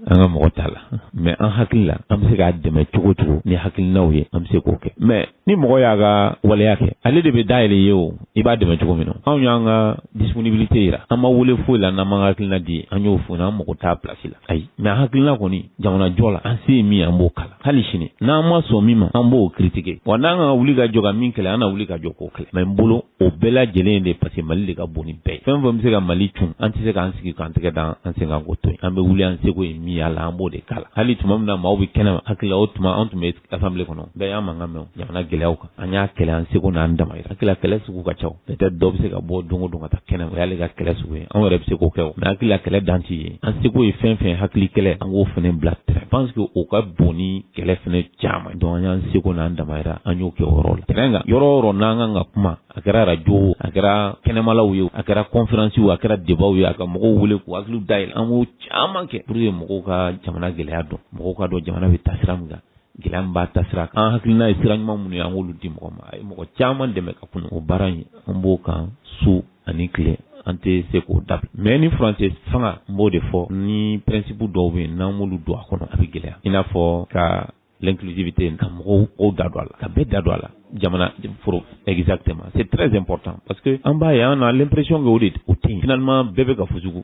an ka mɔgɔ t'a la mɛ an hakili la an bɛ se k'a dɛmɛ cogo cogo ni hakilinaw ye an bɛ se k'o kɛ mɛ ni mɔgɔ y'a ka waleya kɛ ale de bɛ dayɛlɛ ye o i b'a dɛmɛ cogo min na anw y'an ka disponibilité yira an ma wele foyi la n'an m'an hakilina di an y'o fɔ an mago tɛ pilasi la ayi mɛ an hakilina kɔni jamanajɔ la an se ye min ye an b'o k'a la hali sini n'an ma sɔn min ma an b'o kiritike wa n'an ka wuli ka jɔ ka min kɛlɛ an na wuli ka jɔ k'o kɛlɛ mɛ n bolo o bɛɛ lajɛlen de parce que mali de ka bon ni bɛɛ ye fɛn fɛn bɛ se ka mali cun an tɛ se k'an sigi k'an tɛgɛ da an sen kan k'o to yen an bɛ wuli an seko ye min y'a la an b'o de k'a la hali tuma min na maaw bɛ kɛnɛ ma hakili la o tuma an tun bɛ assemblée kɔnɔ bɛɛ y'an mankan mɛn jamana gɛlɛyaw kan an y'a kɛlɛ an seko n'an damayira hakili la kɛlɛ sugu ka ca peut-être dɔ bɛ se ka bɔ don o don ka taa kɛnɛ ma o y'ale ka kɛlɛ sugu ye anw yɛrɛ bɛ se k'o kɛ o mais hakili la kɛlɛ dan tɛ yen an seko ye fɛn fɛn hakili kɛlɛ an k'o fana bila terrain pense que o ka bon ni kɛlɛ fana caman donc an y'an seko n'an damayira an y'o kɛ o yɔrɔ la tɛrɛn kan yɔrɔ o yɔrɔ n'an kan ka kuma a kɛra arajo a kɛra kɛnɛmalaw ye a kɛra kɔnfiransiw a kɛra debaw ye a ka mɔgɔw wele k'u hakiliw dayɛlɛ an b'o caman kɛ pour que mɔgɔw ka jamana gɛlɛya dɔn mɔgɔw ka dɔn jamana bɛ taa sira min kan gɛlɛya min b'a taasira kan an hakilina ye sira ɲuman minnu ye an k'olu di mɔgɔ ma a ye mɔgɔ caman dɛmɛ ka kunun o baara in an b'o kan su ani tile an tɛ se k'o dabila mais ni furancɛ fanga n b'o de fɔ ni principe dɔw bɛ yen n'an m'olu don a kɔnɔ a bɛ gɛlɛya i n'a fɔ ka l'inclusivité ka mɔgɔw da don a la ka bɛɛ da don a la jamana foro exactement c'est très important parce que an b'a ye on a l'impression que o de o tɛ yen finalement bɛɛ bɛ ka fujugu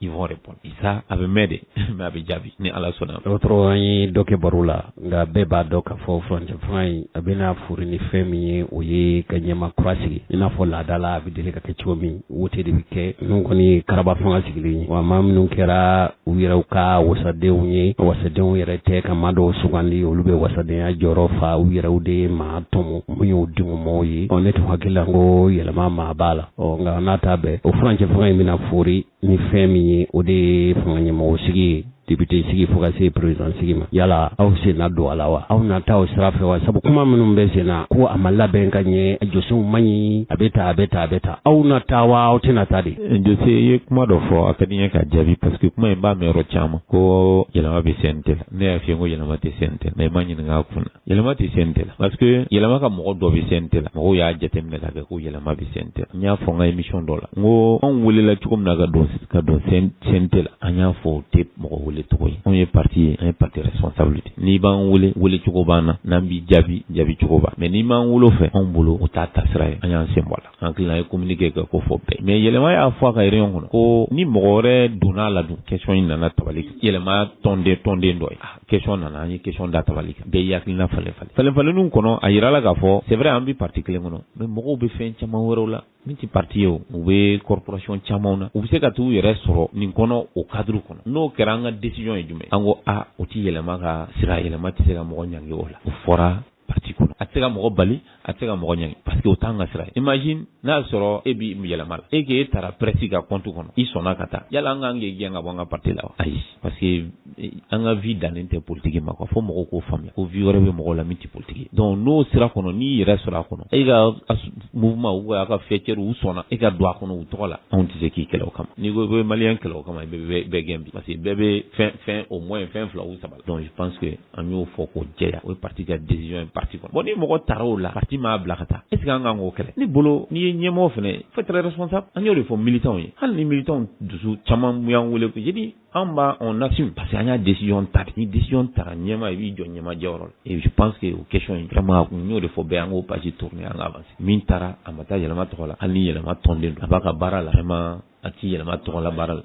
ils vont répondre ça a bɛ mɛn dɛ mais a bɛ jaabi ni ala sɔnna dɔgɔtɔrɔ an ye dɔ kɛ baro la nka bɛɛ b'a dɔn k'a fɔ furancɛ fanga in a bɛna foori ni fɛn min ye o ye ka ɲɛmaa kura sigi i n'a fɔ laada la a bɛ deli ka kɛ cogo min wote de bɛ kɛ ninnu kɔni ye karaba fanga sigilen ye wa maa minnu kɛra u yɛrɛw ka wasadenw ye wasadenw yɛrɛ tɛ ka maa dɔw sugandi olu bɛ wasadenya jɔyɔrɔ fa u yɛrɛw de ye maa tɔmɔ min y'u dungɔmɔgɔw ye ɔ ne tun hakili la ko yɛlɛma maa b'a la ɔ nka n'a ta bɛɛ o furancɛ fanga in bɛna foori ni fɛn min ye o de ye fanga ɲɛmɔgɔ sigi ye depite sigi fo ka se perezidan sigi ma yala aw sen na don a la wa aw na taa o sira fɛ wa sabu kuma minnu bɛ senna ko a ma labɛn ka ɲɛ a jɔsenw man ɲi a bɛ taa a bɛ taa a bɛ taa aw na taa wa aw tɛna taa de eh, jose i ye kuma dɔ fɔ a ka di n ye k'a jaabi parce que kuma in n b'a mɛn yɔrɔ caman ko yɛlɛma bɛ CNT la ne y'a f'i ye ko yɛlɛma tɛ CNT la mais i ma ɲininka a kun na yɛlɛma tɛ CNT la parce que yɛlɛma ka mɔgɔ dɔ bɛ CNT la mɔgɔw y'a jateminɛ k'a kɛ ko yɛlɛma bɛ CNT la n y'a fɔ n ka émission dɔ la n ko anw welela cogo min na ka don ka don CNT la an y'a fɔ o tɛ mɔgɔ wele cogo ye anw ye parti ye an ye parti responsable de ye n'i b'an wele wele cogo b'an na n'an b'i jaabi jaabi cogo b'an mais n'i m'an wele o fɛ anw bolo o t'a taasira ye an y'an senbɔ a la. hakilila an ye communiqué kɛ k'o fɔ bɛɛ ye mais yɛlɛma y'a fɔ a ka réunion kɔnɔ ko ni mɔgɔ wɛrɛ donna a la dun question in nana tabali kan yɛlɛma tɔnden tɔnden dɔ ye ah, question nana an ye question da tabali kan bɛɛ y'i hakilina falen falen falen falenninw kɔnɔ a yirala k'a fɔ c'est vrai an bɛ parti kelen kɔnɔ mais mɔgɔw bɛ fɛn caman wɛrɛw la min tɛ parti ye o u bɛ corporation camanw na u bɛ se ka t'u yɛrɛ sɔrɔ nin kɔnɔ o cadre kɔnɔ n'o kɛra an ka décision ye jumɛn an ko a ah, o tɛ yɛlɛma ka sira yɛlɛma tɛ se ka mɔgɔ ɲangi o la o fɔra parti kɔnɔ a tɛ se ka mɔgɔ bali a tɛ se ka mɔgɔ ɲangi parce que o t'an ka sira ye imagine n'a y'a sɔrɔ e bɛ yɛlɛma la e k'e taara presse ka compte kɔnɔ i sɔnna ka taa yala an ka kan k'i gɛn ka bɔ an ka parti la wa ayi parce que an ka vie dannen tɛ politiki ma ko fo mɔgɔw k'o faamuya ko vie wɛrɛ bɛ mɔgɔ la min tɛ politiki ye donc n'o sira kɔnɔ n'i yɛrɛ sɔrɔ a kɔnɔ e ka mouvement ou a ka faîtière u sɔnna e ka don a kɔnɔ u tɔgɔ la anw tɛ se k'i kɛlɛ o kama n'i ko i bɛ malien kɛlɛ o kama i bɛ bɛɛ gɛn bi parce que bɛɛ bɛ fɛn au moins fɛn fila ou saba la donc je pense an y'o fɔ k'o jɛya o ye parti ka décision ye parti kɔnɔ bon ni mɔgɔ taara o la parti m'a bila ka taa est ce que an kan k'o kɛlɛ ne bolo n'i ye ɲɛmɔgɔ fana ye faut être responsable an y'o de fɔ militants ye hali ni militants dusu caman minnu y'an wele ko je dis an b'a on assume parce que an y'a décision ta ni décision tara ɲɛmaa i b'i jɔ ɲɛmaa jɔyɔrɔ la et je pense que o question in vraiment n y'o de fɔ bɛɛ an k'o page tourner an ka avancer min taara a ma taa yɛlɛma tɔgɔ la hali ni yɛlɛma tɔnden don a b'a ka baara la vraiment a tɛ yɛlɛma tɔgɔ la baara la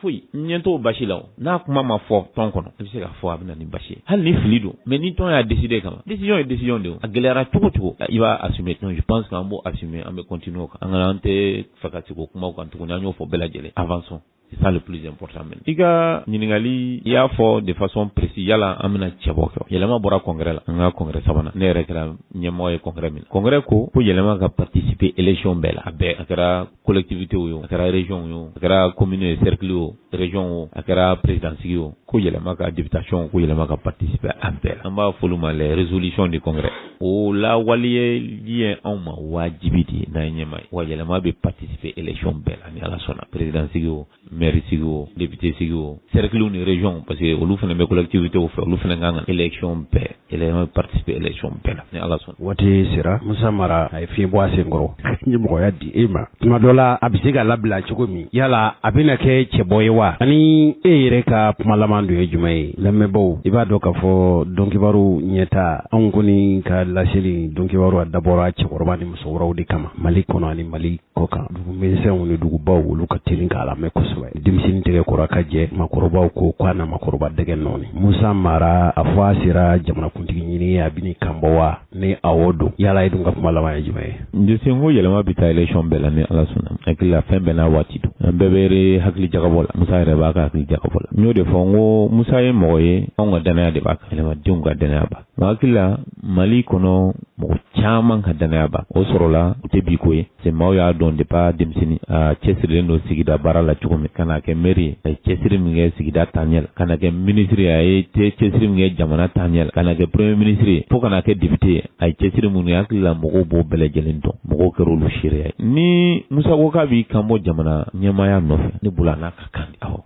foyi ɲɛ t'o baasi la n'a kuma ma fɔ tɔn kɔnɔ i bɛ se k'a fɔ a bɛ na ni baasi ye hali ni fili don mais ni tɔn y'a décidé quand même décision ye décision de ye a gɛlɛyara cogo o cogo i b'a assumer donc je pense que an b'o assumer an bɛ continuer o kan an kana an t'a fɛ ka segin o kumaw kan tuguni an y'o fɔ bɛɛ lajɛlen avançons c'est ça le plus important même i ka ɲininkali i y'a fɔ de façon précise yala an bɛna cɛbɔ kɛ yɛlɛma bɔra congrès la an ka congrès sabanan ne yɛrɛ kɛra ɲɛmɔgɔ ye congrès min na congrès ko ko yɛlɛma ka participer élection bɛɛ la a bɛɛ a kɛra collectivitéw ye o a kɛra régionw ye o a kɛra commune ye cercle o région o a kɛra président sigi o ko yɛlɛma ka députation ko yɛlɛma ka participer a bɛɛ la an b'a f'olu ma les résolutions du congrès o lawaleyali ye anw ma wajibi de ye n'an ye ɲɛmaa ye wa yɛlɛma bɛ participer élection bɛɛ la ni ala sɔnna président sigi o maire sigi o député sigi o cerclew ni régionw parce que olu fana bɛ collectivitéw fɛ olu fana an kan ka élection bɛɛ yɛlɛma bɛ participer élection bɛɛ la ni ala sɔnna waati sera musa mara a ye fiɲɛ bɔ a senkɔrɔ ka ɲɛmɔgɔya di e ma tuma dɔ la a bɛ se ka labila cogo min yala a bɛna kɛ cɛbɔ ye wa ani e yɛrɛ ka kuma laban dun ye jumɛn ye lamɛnbaaw i b'a dɔn k'a fɔ don kibaru ɲɛta anw kɔni ka laseli don kibaru a dabɔra cɛkɔrɔba ni musokɔrɔbaw de kama mali kɔnɔ ani mali kɔkan dugu misɛnw ni dugubaw olu ka teli k'a lamɛn kosɛbɛ denmisɛnnin tɛgɛ kora ka jɛ maakɔrɔbaw ko k'a na maakɔrɔba dɛgɛ nɔɔni musa mara a fɔ a sera jamanakuntigi ɲini a bɛn'i kanbɔ wa ni awɔ don yala e dun ka kuma laban ye jumɛn ye n tɛ se n ko yɛlɛma bɛ taa élection bɛɛ la ni ala sɔnna hakili la fɛn bɛɛ n'a waati don an bɛɛ bɛ yɛrɛ hakili jagabɔ la musa yɛrɛ b'a ka hakili jagabɔ la n y'o de fɔ n ko musa ye mɔgɔ ye anw ka dannaya de b'a kan yɛlɛmadenw ka dannaya b'a kan hakili la mali kɔnɔ mɔgɔ caman ka dannaya b'a kan o sɔrɔla o tɛ bi ko ye c'est maaw y'a dɔn depuis a denmisɛnnin a cɛsirilen don sigida baara la cogo min ka na kɛ maire ye a ye cɛsiri min kɛ sigida taaɲɛ la ka na kɛ minisiri ye a ye cɛsiri min kɛ jamana taaɲɛ la ka na kɛ premier minisiri fo ka na kɛ député ye a ye cɛsiri minnu ye hakili la mɔgɔw b'o bɛɛ lajɛlen dɔn mɔgɔw kɛra olu seereya ye ni musa ko k'a b'i kan bɔ jamana ɲɛmaaya nɔfɛ ne bolo a n'a ka kan awɔ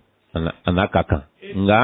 a n'a ka kan nka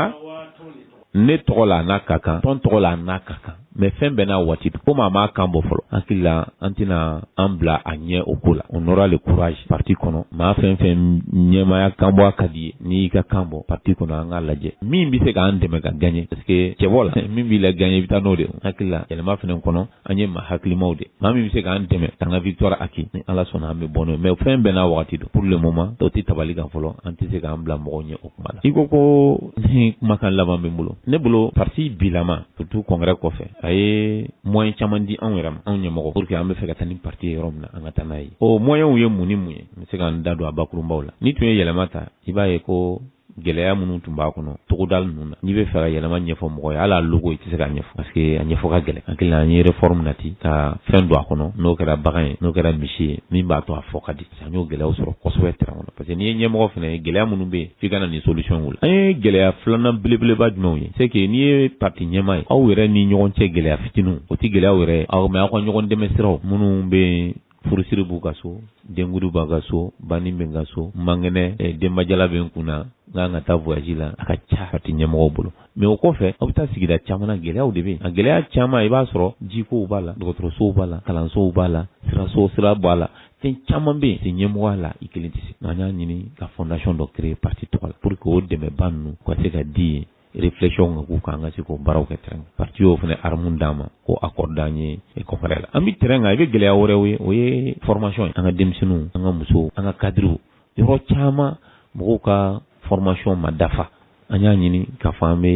ne tɔgɔ la a n'a ka kan tɔn tɔgɔ la a n'a ka kan mais fɛn bɛɛ n'a waati comme a m'a kan bɔ fɔlɔ hakili la an tɛna an bila a ɲɛ o ko la on aura le courage parti kɔnɔ maa fɛn o fɛn ɲɛmaaya kan bɔ a ka di i ye n'i y'i ka kan bɔ parti kɔnɔ an k'a lajɛ min bɛ se k'an dɛmɛ ka gagner parce que cɛbɔ la min b'i la gagner i bɛ taa n'o de ye hakili la yɛlɛma fana kɔnɔ an ye maa hakilimaw de maa min bɛ se k'an dɛmɛ k'an ka victoire acquis ni ala sɔnna an bɛ bɔ n'o ye mais fɛn bɛɛ n'a wagati don pour le moment tɔgɔ tɛ tabali kan fɔlɔ an tɛ se k'an bila mɔgɔw ɲɛ o kuma la i ko ko ni kumakan laban bɛ n bolo ne bolo parti bilama surtout congrès kɔfɛ a ye moyen caman di anw yɛrɛ ma anw ɲɛmɔgɔ pour que an bɛ fɛ ka taa ni parti ye yɔrɔ min na an ka taa n'a ye o moyens ye mun ni mun ye n bɛ se ka n da don a bakurunbaw la n'i tun ye yɛlɛma ta i b'a ye ko gɛlɛya minnu tun b'a kɔnɔ togoda ninnu na n'i bɛ fɛ ka yɛlɛma ɲɛfɔ mɔgɔ ye hali logo i tɛ se ka ɲɛfɔ parce que a ɲɛfɔ ka gɛlɛn hakili la an ye réforme nati ka fɛn don a kɔnɔ n'o kɛra bagan ye n'o kɛra misi ye min b'a to a fɔ ka di an y'o gɛlɛyaw sɔrɔ kosɛbɛ terrain kɔnɔ parce que n'i ye ɲɛmɔgɔ fana ye gɛlɛya minnu bɛ yen f'i ka na ni solutionw la an ye gɛlɛya filanan belebeleba jumɛnw ye c'est que n'i ye parti ɲɛmaa ye aw yɛrɛ ni ɲɔgɔn cɛ gɛlɛya fitininw o tɛ gɛlɛyaw yɛrɛ ye mais aw ka ɲɔgɔn dɛmɛ siraw minnu bɛ furusiri b'u ka so denkundi b'a ka so banni bɛ n ka so n man kɛnɛ eh, denbajala bɛ n kun na n ka kan ka taa voyage la a ka ca parti ɲɛmɔgɔw bolo mais o kɔfɛ aw bɛ taa sigida caman na gɛlɛyaw de bɛ yen a gɛlɛya caman i b'a sɔrɔ jikow b'a la dɔgɔtɔrɔsow b'a la kalansow b'a la siraso sira b'a la fɛn caman bɛ yen parti ɲɛmɔgɔya la i kelen tɛ se nka an y'a ɲini ka fondation dɔ créer parti tɔgɔ la pour que o dɛmɛba ninnu ka se ka di yen réflexion ka k'u kan an ka se k'o baaraw kɛ terrain kan parti y'o fana arme d'an ma k'o accorder an ye congrès la an bɛ terrain kan i bɛ gɛlɛya wɛrɛw ye o ye formation ye an ka denmisɛnninw an ka musow an ka cadres yɔrɔ caman mɔgɔw ka formation ma dafa an y'a ɲini k'a fɔ an bɛ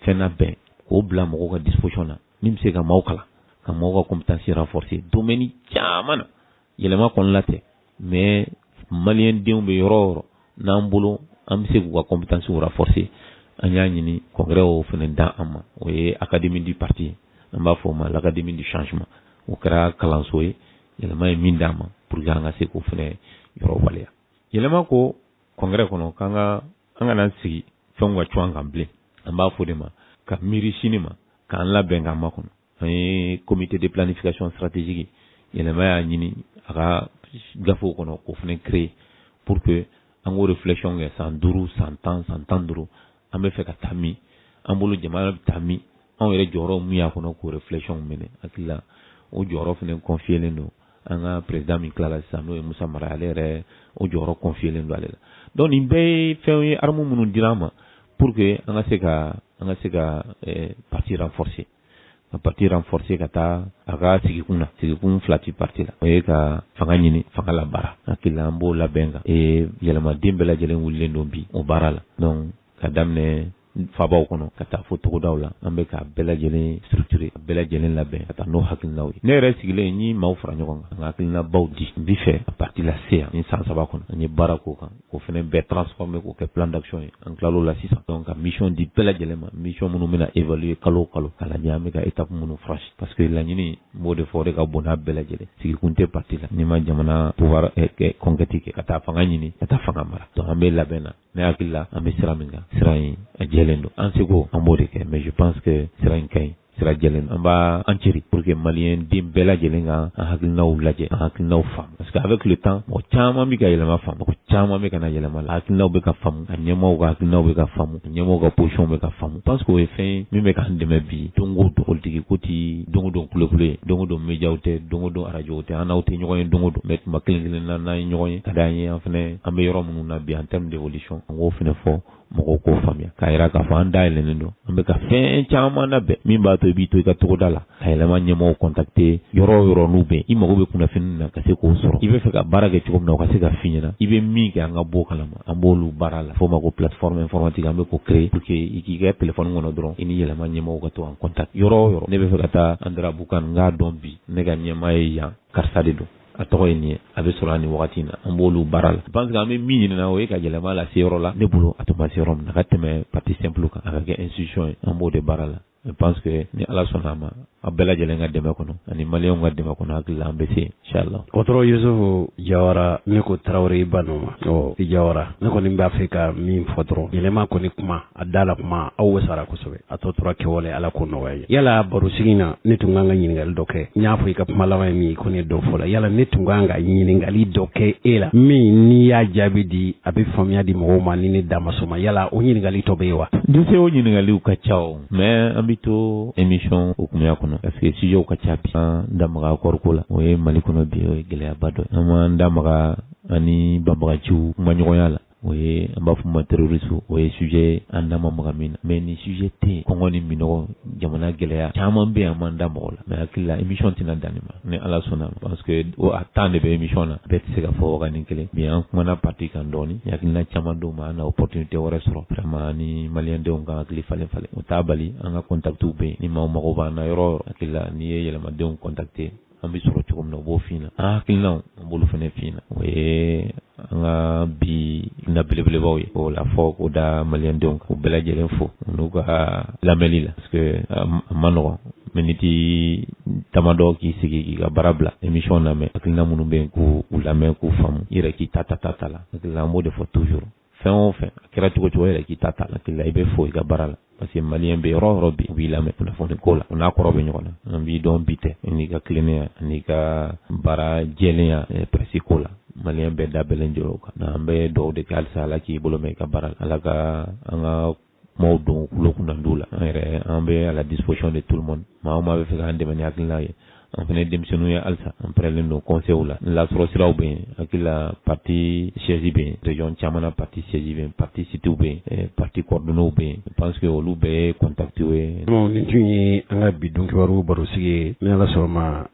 fɛn labɛn k'o bila mɔgɔw ka disposition na min bɛ se ka maaw kalan ka maaw ka compétence renforcer domaine caman na yɛlɛma kɔni la tɛ mais malien denw bɛ yɔrɔ o yɔrɔ n'an bolo an bɛ se k'u ka compétences renforcer an y'a ɲini congrès o fana d'an ma o ye académie du parti ye an b'a fɔ o ma l'académie du changement o kɛra kalanso ye yɛlɛma ye min d'an ma pour que an ka se k'o fana yɔrɔ waleya yɛlɛma ko congrès kɔnɔ k'an ka an kana sigi fɛnw ka cun an kan bilen an b'a fɛ de maa ka miiri sini ma k'an labɛn k'a makɔnɔ an ye comité de planification stratégique yɛlɛma y'a ɲini a ka gafew kɔnɔ k'o fana créer pour que an k'o réflexion kɛ san duuru san tan san tan ni duuru an bɛ fɛ ka taa min an bolo jamana bɛ taa min anw yɛrɛ jɔyɔrɔ min y'a kɔnɔ k'o réflexion minɛ hakili la o jɔyɔrɔ fana confielen don an ka président min tilala sisan n'o ye Musa Mara ale yɛrɛ o jɔyɔrɔ confielen don ale la donc nin bɛɛ ye fɛnw ye armes minnu dira an ma pour que an ka se ka an ka se ka eh, parti renforcer ka parti renforcer ka taa a ka sigikun na sigikun fila ti parti la o ye ka fanga ɲini fanga labaara hakili la an b'o labɛn kan ee yɛlɛmaden bɛɛ lajɛlen wulilen don bi o baara la donc ka daminɛ fabaw kɔnɔ ka taa fo togodaw la an bɛ k'a bɛɛ lajɛlen structurer k'a bɛɛ lajɛlen labɛn ka taa n'o hakilinaw ye ne yɛrɛ sigilen n ye maaw fara ɲɔgɔn kan an ka hakilinabaw di n bi fɛ ka parti lase yan ni san saba kɔnɔ an ye baara k'o kan o fana bɛɛ transformer k'o kɛ plan d'action ye an tilal'o la sisan donc ka mission di bɛɛ lajɛlen ma mission minnu bɛna évaluer kalo o kalo k'a lajɛ an bɛ ka étape minnu franchir parce que laɲini n b'o de fɔ o de ka bon n'a bɛɛ lajɛlen sigikun tɛ parti la n'i ma jamana pouvoir eh, eh, conquête kɛ ka taa fanga ɲini ka taa fanga mara donc an bɛ labɛn na ne hakili la an bɛ sira min kan sira in a jɛlen don an seko an b'o de kɛ mais je pense que sira in ka ɲi sira jɛlen an b'an cɛsiri pour que maliyɛn den bɛɛ lajɛlen ka an hakilinaw lajɛ an hakilinaw faamu parce que avec le temps mɔgɔ caman bɛ ka yɛlɛma faamu mɔgɔ caman bɛ ka na yɛlɛma la hakilinaw bɛ ka faamu a ɲɛmɔgɔw ka hakilinaw bɛ ka faamu a ɲɛmɔgɔw ka position bɛ ka faamu je pense que o ye fɛn ye min bɛ k'an dɛmɛ bi don o don politiki ko tɛ don o don kulekule ye don o don médiaw tɛ don o don arajow tɛ an n'aw tɛ ɲɔgɔn ye don o don mais tuma kelen kelen na n'an ye ɲɔgɔn ye ka d'an ye an fana an bɛ yɔrɔ minnu na bi en terme d'évolution an k'o fana fɔ mɔgɔw k'o faamuya k'a yira k'a fɔ an dayɛlɛnnen don an bɛ ka fɛn caman labɛn min b'a to i b'i to i ka togoda la ka yɛlɛma ɲɛmɔgɔw contacter yɔrɔ o yɔrɔ n'u bɛ i mago bɛ kunnafoni na ka se k'o sɔrɔ i bɛ fɛ ka baara kɛ cogo min na o ka se ka f'i ɲɛna i bɛ min kɛ an ka b'o kalama an b'olu baara la f'o ma ko plateforme informatique an bɛ k'o créer pour que i k'i ka telefɔni kɔnɔ dɔrɔn i ni yɛlɛma ɲɛmɔgɔw ka to en contact yɔrɔ o yɔrɔ ne bɛ fɛ ka taa andarabukan n k'a dɔn bi ne ka ɲɛmaa ye yan karisa de don a tɔgɔ ye nin ye a bɛ sɔrɔ a nin wagati na an b'olu baara la je pense que an bɛ min ɲinina o ye ka yɛlɛma lase yɔrɔ la ne bolo a tun ma se yɔrɔ min na ka tɛmɛ parti simple kan a ka kɛ institution ye an b'o de baara la je pense que ni ala sɔnna a ma a bɛɛ lajɛlen ka dɛmɛ kɔnɔ ani maliyɛnw ka dɛmɛ kɔnɔ hakili la an bɛ se inshallah dɔkɔtɔrɔ yusufu jawara ne ko tarawele i ba nɔ ma ɔ i jawara ne kɔni b'a fɛ ka min fɔ dɔrɔn yɛlɛma kɔni kuma a da la kuma aw bɛ s'a ra kosɛbɛ a tɔ tora kɛwale ala k'o nɔgɔya ye yala barosigi na ne tun kan ka ɲininkali dɔ kɛ n y'a fɔ i ka kuma laban ye min ko ne dɔ fɔ la yala ne tun kan ka ɲininkali dɔ kɛ e la min n'i y'a jaabi di a bɛ faamuya di mɔgɔw ma ni ne da ma s'o ma yala o ɲininkali dɔ bɛ yen wa dise o ɲininkaliw ka ca o mais an bɛ to émission hukumuya kɔnɔ parce que sujetw ka ca bi an da maga akɔri ko la o ye mali kɔnɔ bi o ye gɛlɛyaba dɔ ye an m'an da maga an ni banbaganciw kumaɲɔgɔnya la o ye an b'a fɔ ma terrorisme o ye sujet an da ma maga min na mais ni sujet tɛ kɔngɔ ni minɔgɔ jamana gɛlɛya caman bɛ yan an m'an da maga a la mais hakili la émission tɛna dan nin ma ni ala sɔnna parce que o a temps de bɛ émission na bɛɛ tɛ se ka fɔ wagati kelen bi an kumana parti kan dɔɔnin hakilina caman d'o ma an na opportunité wɛrɛ sɔrɔ vraiment ni maliyɛndenw k'an hakili falen falen o t'a bali an ka contactw bɛ yen ni maa mago b'an na yɔrɔ o yɔrɔ hakili la n'i ye yɛlɛmadenw contacter an bɛ sɔrɔ cogo min na u b'o f'i na an hakilinaw an b'olu fana f'i na o ye an ka bi na belebelebaw ye o la fɔ k'o da maliyɛndenw kan k'u bɛɛ lajɛlen fo n'u ka lamɛnli la parce que a ma nɔgɔn miniti damadɔ k'i sigi k'i ka baara bila émission lamɛn hakilina minnu bɛ yen k'u lamɛn k'u faamu i yɛrɛ k'i ta ta ta ta la hakilina an b'o de fɔ toujours fɛn o fɛn a kɛra cogo o cogo yɛrɛ k'i ta ta la hakili la i bɛ fo i ka baara la parce que maliyɛn bɛ yɔrɔ o yɔrɔ bi u b'i lamɛn kunnafoni ko la o n'a kɔrɔ bɛ ɲɔgɔn na an b'i dɔn bi tɛ n'i ka tilennenya ani i ka baara jɛlenya eh, presse ko la maliyɛn bɛɛ da bɛnlen don o kan an bɛ dugawu de kɛ halisa ala k'i bolo mɛɛn i ka baara la ala ka an ka kumaw don tulo kunnandiw la an yɛrɛ an bɛ à la disposition de tout le monde maa o maa b'a fɛ k'an dɛmɛ ni hakilina ye an fana ye denmisɛnninw ye halisa an pɛrɛlen don conseils la lasɔrɔ siraw bɛ yen hakili la parti siège bɛ yen région caman na parti siège bɛ yen parti sitiw bɛ yen parti coordonnées bɛ yen je pense que olu bɛɛ ye contacts ye. Ɔ nin tun ye an ka bi don kibaru barosigi ye ni Ala sɔnna a ma.